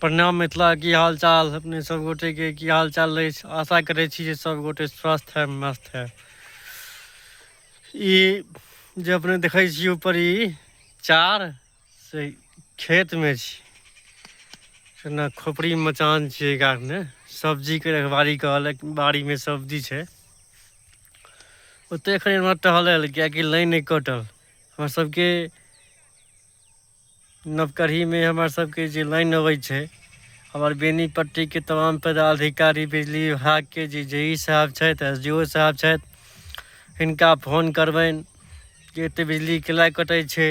प्रणाम मिथिला की हाल चाल अपने सब गोटे के की हाल चाल रहै छै आशा करै छी जे सब गोटे स्वस्थ है मस्त है ई जे अपने देखै छी ऊपर ई चार से खेत मे छी ना खोपड़ी मचान छियै गा मे सब्जी के रखबारी कहल बाड़ी मे सब्जी छै ओते एखन एमहर टहलय लेल कियकि लाइन नहि कटल हमर सबके नवकरही मे हमर सबके जे लाइन अबै छै हमर बेनीपट्टी के तमाम पदाधिकारी बिजली विभाग के जे जे ई साहेब छैथ एस डी ओ साहेब छैथ हिनका फोन करबैन जे एते बिजली के लाय कटै छै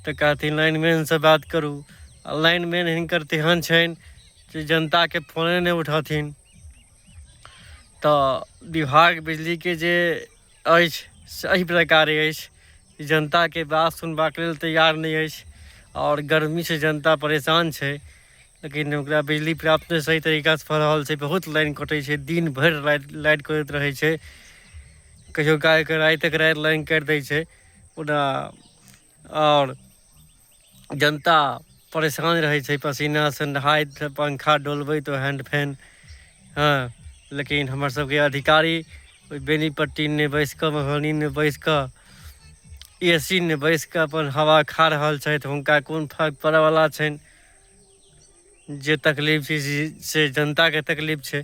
तऽ कहथिन लाइनमैन सँ बात करू आ लाइनमैन हिनकर तेहन छैन जे जनता के फोने नै उठथिन तऽ विभाग बिजली के जे अछि से एहि प्रकार अछि जनताके बात सुनबाक लेल तैयार नहि अछि आओर गर्मीसँ जनता परेशान छै लेकिन ओकरा बिजली प्राप्त नहि सही तरीकासँ भऽ रहल छै बहुत लाइन कटै छै दिन भरि लाइट लाइट करैत रहै छै कहियो कालके राति तक राति लाइन काटि दै छै ओना आओर जनता परेशान रहै छै पसीनासँ नहाइत पंखा डोलबैत ओ हैण्ड फैन हँ लेकिन हमर सबके अधिकारी ओहि बेनीपट्टी नहि बैस कऽ मधुबनी नहि बैस कऽ ए सी मे बैस कऽ अपन हवा खा रहल छथि हुनका कोन फर्क पड़यवला छनि जे तकलीफ छै से जनताके तकलीफ छै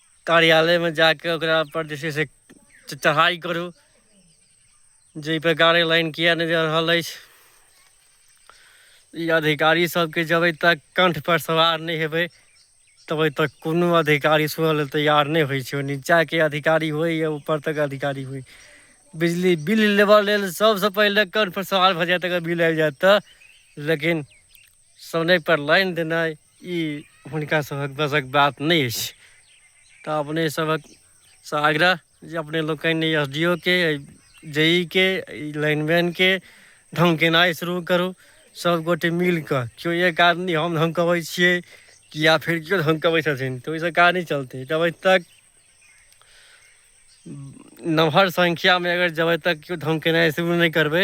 कार्यालयमे जा कऽ ओकरापर जे छै से चढ़ाइ करू जे एहिपर गाड़ी लाइन किए नहि जा रहल अछि ई अधिकारी सबके जब तक कंठ पर सवार नहीं हेबे तब तक कोनो अधिकारी सुनऽ लेल तैयार नहीं होइ छै नीचा के अधिकारी हो या ऊपर तक अधिकारी हो बिजली बिल लेबऽ लेल सबसे पहले कंठ पर सवार भ जाए अगर बिल आबि जाए तऽ लेकिन समय पर लाइन देना ई हुनका सभक बसक बात नहि अछि तऽ अपने सभक सँ आग्रह जे अपने लोकनि एस डी ओ के जे ई के लाइनमैन के धमकेनाइ शुरू करू सभगोटे मिल कऽ केओ एक आदमी हम धमकबै छियै कि या फेर केओ धमकबै छथिन तऽ ओहिसँ काज नहि चलतै जबै तक नमहर संख्यामे अगर जबै तक केओ धमकेनाइ शुरू नहि करबै